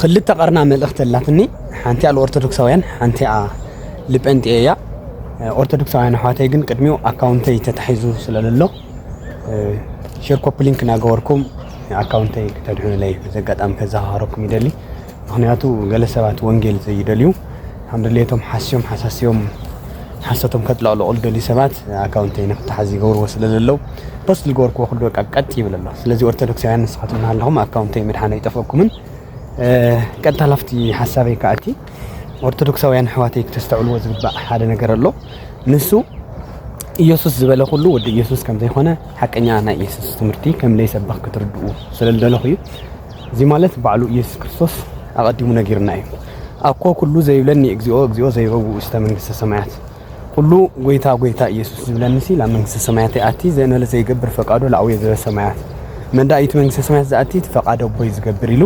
ክልተ ቀርና መልእኽቲ ኣላትኒ ሓንቲኣ ልኦርቶዶክሳውያን ሓንቲኣ ልጴንጤ እያ ኦርቶዶክሳውያን ኣሕዋተይ ግን ቅድሚኡ ኣካውንተይ ተታሒዙ ስለለሎ ሼር ኮፒ ሊንክ እናገበርኩም ኣካውንተይ ክተድሕኑለይ በዚ ኣጋጣሚ ከዘኻኸረኩም ይደሊ ምክንያቱ ገለ ሰባት ወንጌል ዘይደልዩ ከም ድሌቶም ሓስዮም ሓሳስዮም ሓሶቶም ከጥለቕልቑ ዝደልዩ ሰባት ኣካውንተይ ንክተሓዝ ይገብርዎ ስለ ዘለዉ ፖስት ዝገበርክዎ ኩሉ በቃ ቀጥ ይብል ኣሎ ስለዚ ኦርቶዶክሳውያን ንስኻትኩም እናሃለኹም ኣካውንተይ ምድሓን ኣይጠፍኦኩምን ቀጥታ ላፍቲ ሓሳበይ ከዓ እቲ ኦርቶዶክሳውያን ኣሕዋተይ ክተስተዕልዎ ዝግባእ ሓደ ነገር ኣሎ ንሱ ኢየሱስ ዝበለ ኩሉ ወዲ ኢየሱስ ከም ዘይኮነ ሓቀኛ ናይ ኢየሱስ ትምህርቲ ከም ዘይሰብኽ ክትርድኡ ስለ ዝደለኹ እዩ እዚ ማለት ባዕሉ ኢየሱስ ክርስቶስ ኣቐዲሙ ነጊርና እዩ ኣኮ ኩሉ ዘይብለኒ እግዚኦ እግዚኦ ዘይበውእ ውስተ መንግስተ ሰማያት ኩሉ ጎይታ ጎይታ ኢየሱስ ዝብለኒ ሲ ላብ መንግስተ ሰማያት ይኣቲ ዘእነለ ዘይገብር ፈቃዶ ለኣውየ ዘበሰማያት መንዳኢት መንግስተ ሰማያት ዝኣቲ ፈቃዶ ኣቦይ ዝገብር ኢሉ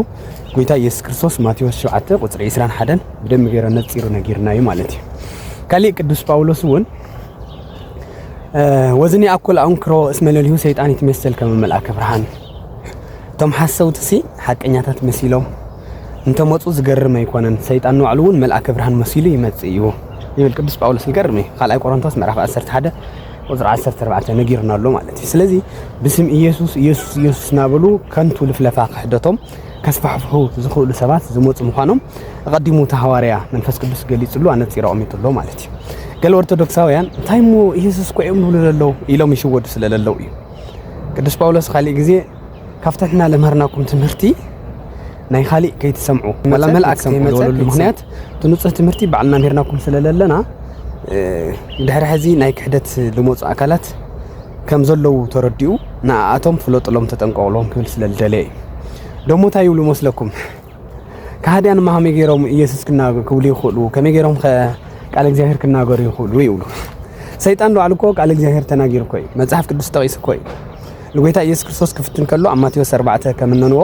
ጎይታ ኢየሱስ ክርስቶስ ማቴዎስ 7 ቁፅሪ 21 ብደሚ ገይሮ ነፂሩ ነጊርና እዩ ማለት እዩ ካሊእ ቅዱስ ጳውሎስ እውን ወዝኒ ኣኩል ኣንክሮ እስመ ለልሁ ሰይጣን ይትመሰል ከመ መልኣከ ብርሃን እቶም ሓሰውቲ ሲ ሓቀኛታት መሲሎም እንተመጹ ዝገርም ኣይኮነን ሰይጣን ንባዕሉ እውን መልኣከ ብርሃን መሲሉ ይመጽእ እዩ ይብል ቅዱስ ጳውሎስ ዝገርም እዩ ካልኣይ ቆሮንቶስ ምዕራፍ 11 ቁፅሪ 14 ነጊርና ኣሎ ማለት እዩ ስለዚ ብስም ኢየሱስ ኢየሱስ ኢየሱስ እናበሉ ከንቱ ልፍለፋ ክሕደቶም ከስፋሕፍሑ ዝኽእሉ ሰባት ዝመፁ ምዃኖም ኣቐዲሙ እቲ ሃዋርያ መንፈስ ቅዱስ ገሊፅሉ ኣነፂሮ ኣቕሚጡሎ ማለት እዩ ገለ ኦርቶዶክሳውያን እንታይ እሞ ኢየሱስ ኮ እዮም ዝብሉ ዘለዉ ኢሎም ይሽወዱ ስለ ዘለዉ እዩ ቅዱስ ጳውሎስ ካሊእ ግዜ ካብቲ ንሕና ለምሃርናኩም ትምህርቲ ናይ ኻሊእ ከይትሰምዑ መላ መልኣክ ዘይመፀሉ ምክንያት እቲ ንፁህ ትምህርቲ ባዕልና ምሂርናኩም ስለለለና ድሕሪ ሕዚ ናይ ክሕደት ዝመፁ ኣካላት ከም ዘለዉ ተረዲኡ ንኣኣቶም ፍለጥሎም ተጠንቀቕሎም ክብል ስለ ዝደለየ እዩ ደሞ እንታይ ይብሉ መስለኩም ከሃድያን እማ ከመይ ገይሮም ኢየሱስ ክብሉ ይኽእሉ? ከመይ ገይሮም ከ ቃል እግዚኣብሔር ክናገሩ ይኽእሉ? ይብሉ። ሰይጣን ባዕሉ እኮ ቃል እግዚኣብሔር ተናጊሩ እኮ እዩ። መጽሓፍ ቅዱስ ጠቒሱ እኮ እዩ። ንጎይታ ኢየሱስ ክርስቶስ ክፍትን ከሎ ኣብ ማቴዎስ 4 ከምነንዎ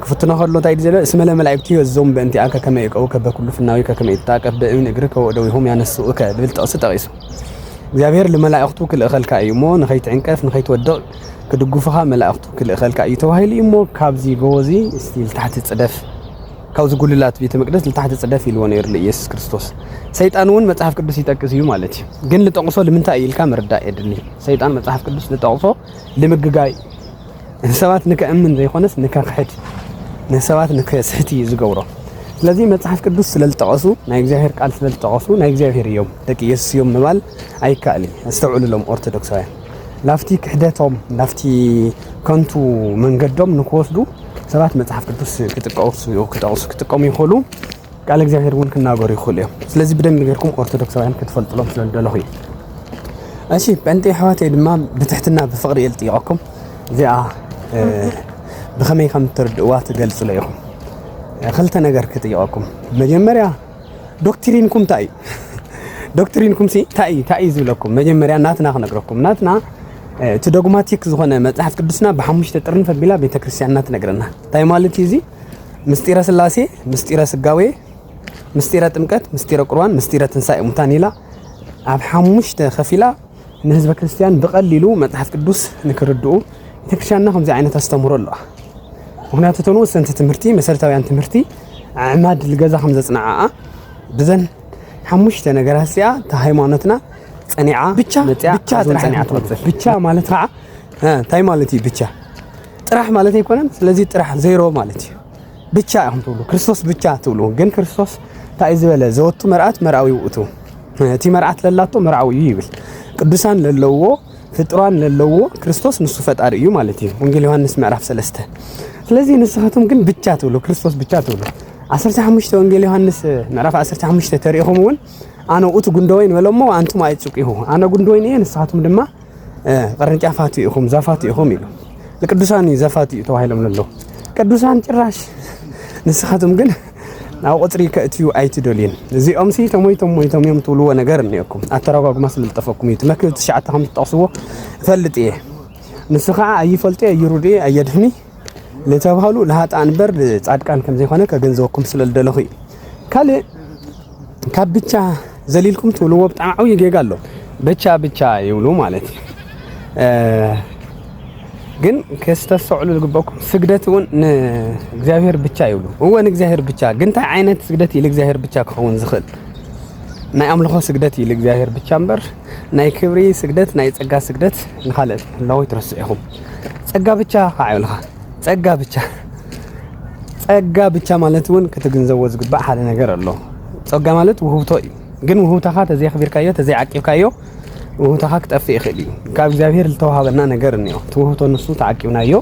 ክፍትኖ ከሎ እንታይ እዩ ዘሎ? እስመ ለመላእክቱ የዞም በእንቲኣከ ከመ ይቀውከ በኩሉ ፍናዊከ ከመ ይትጣቀፍ በእብን እግርከ ወእደዊሆም ያነስኡከ ዝብል ጥቕሲ ጠቒሱ እግዚኣብሔር ንመላእክቱ ክልእኸልካ እዩ እሞ ንኸይትዕንቀፍ ንኸይትወድቕ ክድጉፉኻ መላእኽቱ ክልእኸልካ እዩ ተባሂሉ እዩ እሞ ካብዚ ጎቦ እዚ እስቲ ልታሕቲ ጽደፍ ካብዚ ጉልላት ቤተ መቅደስ ልታሕቲ ጽደፍ ኢልዎ ነይሩ ንኢየሱስ ክርስቶስ። ሰይጣን እውን መጽሓፍ ቅዱስ ይጠቅስ እዩ ማለት እዩ። ግን ልጠቕሶ ልምንታይ እዩ ኢልካ ምርዳእ የድሊ። ሰይጣን መጽሓፍ ቅዱስ ልጠቕሶ ልምግጋይ ንሰባት ንከእምን ዘይኮነስ ንከክሕድ ንሰባት ንከስሕት እዩ ዝገብሮ። ስለዚ መጽሓፍ ቅዱስ ስለ ዝጠቐሱ ናይ እግዚኣብሔር ቃል ስለ ዝጠቐሱ ናይ እግዚኣብሔር እዮም ደቂ ኢየሱስ እዮም ምባል ኣይከኣልን። ኣስተውዕሉሎም ኦርቶዶክሳውያን ናብቲ ክሕደቶም ናብቲ ከንቱ መንገዶም ንክወስዱ ሰባት መጽሓፍ ቅዱስ ክጥቀሱ ክጠቕሱ ክጥቀሙ ይኽእሉ ቃል እግዚኣብሔር እውን ክናገሩ ይኽእሉ እዮም ስለዚ ብደንቢ ጌርኩም ኦርቶዶክሳውያን ክትፈልጥሎም ስለ ዝደለኹ እዩ እሺ ጴንጤ ኣሕዋተይ ድማ ብትሕትና ብፍቕሪ እየ ዝጥይቐኩም እዚኣ ብኸመይ ከም እትርድእዋ ትገልጽሎ ኢኹም ክልተ ነገር ክጥይቐኩም መጀመርያ ዶክትሪንኩም ታይ እዩ? ዶክትሪንኩም ሲ ታይ እዩ? ታይ እዩ ዝብለኩም? መጀመርያ ናትና ክነግረኩም። ናትና እቲ ዶግማቲክ ዝኾነ መጽሓፍ ቅዱስና ብሓሙሽተ ጥርንፍ ኣቢላ ቤተ ክርስቲያንና ትነግረና። ታይ ማለት እዩ እዚ? ምስጢረ ስላሴ፣ ምስጢረ ስጋዌ፣ ምስጢረ ጥምቀት፣ ምስጢረ ቁርባን፣ ምስጢረ ትንሳኤ ሙታን ኢላ ኣብ ሓሙሽተ ከፊላ ንህዝበ ክርስትያን ብቐሊሉ መጽሓፍ ቅዱስ ንክርድኡ ቤተክርስትያንና ከምዚ ዓይነት ኣስተምህሮ ኣለዋ። ምክንያቱ እተን ወሰንቲ ትምህርቲ መሰረታውያን ትምህርቲ ኣዕማድ ልገዛ ከም ዘጽንዓኣ ብዘን ሓሙሽተ ነገራት እዚኣ እታ ሃይማኖትና ጸኒዓ ብቻ መጽያ ብቻ ኣዝን ጥራሕ ጸኒዓ ኣይኮነን። ትቕጽል ብቻ ማለት ከዓ እ፣ እንታይ ማለት እዩ ብቻ ጥራሕ ማለት ኣይኮነን። ስለዚ ጥራሕ ዜሮ ማለት እዩ። ብቻ ኢኹም ትብሉ ክርስቶስ ብቻ ትብሉ ግን ክርስቶስ እንታይ ዝበለ ዘወቱ መርኣት መርኣዊ ውእቱ እቲ መርዓት ለላቶ መርዓዊ እዩ ይብል ቅዱሳን ለለዎ ፍጥሯን ለለዎ ክርስቶስ ንሱ ፈጣሪ እዩ ማለት እዩ ወንጌል ዮሐንስ ምዕራፍ ሰለስተ ስለዚ ንስኻትኩም ግን ብቻ ትብሉ ክርስቶስ ብቻ ትብሉ 15 ወንጌል ዮሐንስ ምዕራፍ 15 ተሪኢኹም እውን ኣነ ውእቱ ጉንደወይን በለሞ ኣንቱም ኣይጽቂሁ ኣነ ጉንደወይን እየ ንስኻትኩም ድማ ቅርንጫፋት ኢኹም ዛፋት ኢኹም ኢሉ ንቅዱሳን እዩ ዛፋት እዩ ተባሂሎም ዘሎ ቅዱሳን ጭራሽ ንስኻትም ግን ናብ ቁፅሪ ከእትዩ ኣይትደልዩን እዚኦም ሲ ተሞይቶም ሞይቶም እዮም ትብልዎ ነገር እኒኦኩም ኣተረጓጉማ ስለልጠፈኩም እዩ መክብብ ትሽዓተ ከም ዝጠቕስዎ እፈልጥ እየ ንሱ ከዓ ኣይፈልጡ እየ ይሩድ እየ ኣየድህኒ ንተብሃሉ ንሃጣን በር ንጻድቃን ከም ዘይኮነ ከገንዘበኩም ስለ ዝደለኹ እዩ። ካልእ ካብ ብቻ ዘሊልኩም ትብልዎ ብጣዕሚ ዓብዪ ጌጋ ኣሎ። ብቻ ብቻ ይብሉ ማለት እዩ። ግን ከስተስተውዕሉ ዝግበኩም ስግደት እውን ንእግዚኣብሔር ብቻ ይብሉ። እወ ንእግዚኣብሔር ብቻ ግን እንታይ ዓይነት ስግደት እዩ ንእግዚኣብሔር ብቻ ክኸውን ዝኽእል? ናይ ኣምልኾ ስግደት እዩ ንእግዚኣብሔር ብቻ እምበር ናይ ክብሪ ስግደት ናይ ጸጋ ስግደት ንኻልእ ኣለዎ ትረስዑ ኢኹም። ጸጋ ብቻ ካዓዩልኻ ጸጋ ብቻ ጸጋ ብቻ ማለት እውን ክትግንዘቦ ዝግባእ ሓደ ነገር ኣሎ። ጸጋ ማለት ውህብቶ እዩ። ግን ውህብታኻ ተዘይኣኽቢርካዮ ተዘይዓቂብካዮ ውህብታኻ ክጠፍእ ይኽእል እዩ። ካብ እግዚኣብሄር ዝተዋሃበና ነገር እኒኦ እቲ ውህብቶ ንሱ ተዓቂብናዮ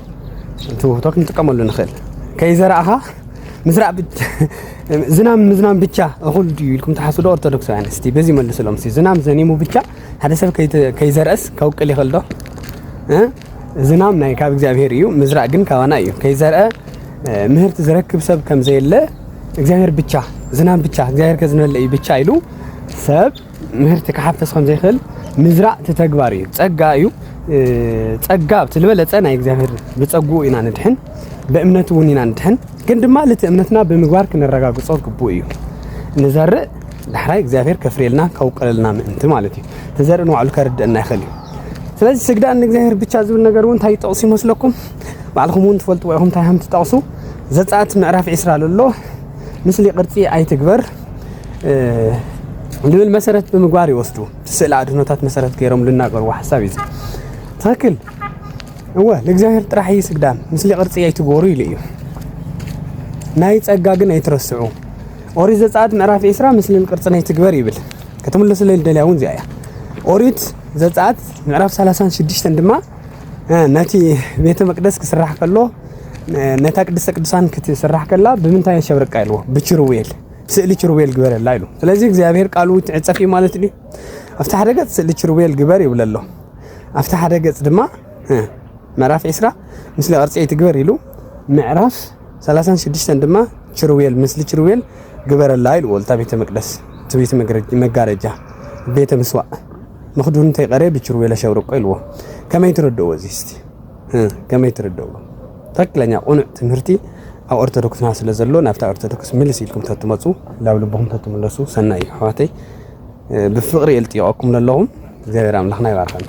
እቲ ውህብቶ ክንጥቀመሉ ንኽእል ከይዘራእኻ ምስራዕ ዝናም ምዝናም ብቻ እኹል ድዩ ኢልኩም ትሓስቡ ዶ ኦርቶዶክሳውያን? እስቲ በዚ መልስሎም። እስቲ ዝናም ዘኒሙ ብቻ ሓደ ሰብ ከይዘርአስ ከውቅል ይኽእል ዶ? ዝናም ናይ ካብ እግዚኣብሄር እዩ፣ ምዝራእ ግን ካባና እዩ። ከይዘርአ ምህርቲ ዝረክብ ሰብ ከም ዘየለ እግዚኣብሄር ብቻ ዝናም ብቻ እግዚኣብሄር ከዝንበለ እዩ ብቻ ኢሉ ሰብ ምህርቲ ክሓፍስ ከም ዘይክእል ምዝራእ እቲ ተግባር እዩ፣ ጸጋ እዩ። ጸጋ እቲ ዝበለጸ ናይ እግዚኣብሔር ብጸግኡ ኢና ንድሕን፣ ብእምነቱ እውን ኢና ንድሕን። ግን ድማ ልቲ እምነትና ብምግባር ክነረጋግጾ ግቡእ እዩ። ንዘርእ ዳሕራይ እግዚኣብሔር ከፍርየልና ከውቅለልና ምእንቲ ማለት እዩ። ተዘርኢ ንባዕሉ ከርድእና ይኽእል እዩ። ስለዚ ስግዳን ንእግዚኣብሔር ብቻ ዝብል ነገር እውን እንታይ ይጠቕሱ ይመስለኩም? ባዕልኹም እውን ትፈልጥዎ ኢኹም እንታይ ከም ትጠቕሱ። ዘጸአት ምዕራፍ ዒስራ ዘሎ ምስሊ ቅርጺ ኣይትግበር ልብል መሰረት ብምግባር ይወስዱ ስእሊ ኣድህኖታት መሰረት ገይሮም ልናገርዎ ሓሳብ እዩ ትክክል እወ ንእግዚኣብሔር ጥራሕ እዩ ስግዳን ምስሊ ቅርፂ ኣይትገበሩ ኢሉ እዩ ናይ ፀጋ ግን ኣይትረስዑ ኦሪት ዘፀኣት ምዕራፍ ዒስራ ምስልን ቅርፅን ኣይትግበር ይብል ክትምለሱለይ ልደልያ እውን እዚኣ እያ ኦሪት ዘፀኣት ምዕራፍ 36 ድማ ነቲ ቤተ መቅደስ ክስራሕ ከሎ ነታ ቅድስተ ቅዱሳን ክትስራሕ ከላ ብምንታይ የሸብርቃ ኢልዎ ብችሩቤል ስእሊ ችሩቤል ግበረላ ኢሉ ስለዚ እግዚኣብሔር ቃሉ ትዕፀፍ እዩ ማለት ድዩ ኣብቲ ሓደ ገፅ ስእሊ ችሩቤል ግበር ይብለ ኣሎ ኣብቲ ሓደ ገፅ ድማ ምዕራፍ ዒስራ ምስሊ ቅርፂ ኣይትግበር ኢሉ ምዕራፍ ሰላሳን ሽዱሽተን ድማ ችሩቤል ምስሊ ችሩቤል ግበረላ ኢልዎ ልታ ቤተ መቅደስ እቲ ቤተ መጋረጃ ቤተ ምስዋእ መኽዱን እንተይቀረየ ብችሩቤል ኣሸብርቆ ኢልዎ ከመይ ትረድእዎ እዚ እስቲ ከመይ ትርድእዎ ትክክለኛ ቁኑዕ ትምህርቲ ኣብ ኦርቶዶክስና ስለ ዘሎ ናብታ ኦርቶዶክስ ምልስ ኢልኩም ተትመፁ ናብ ልብኹም ተትምለሱ ሰናይ እዩ ኣሕዋተይ ብፍቕሪ እልጥይቐኩም ለለኹም እግዚኣብሔር ኣምላኽና ይባርኸና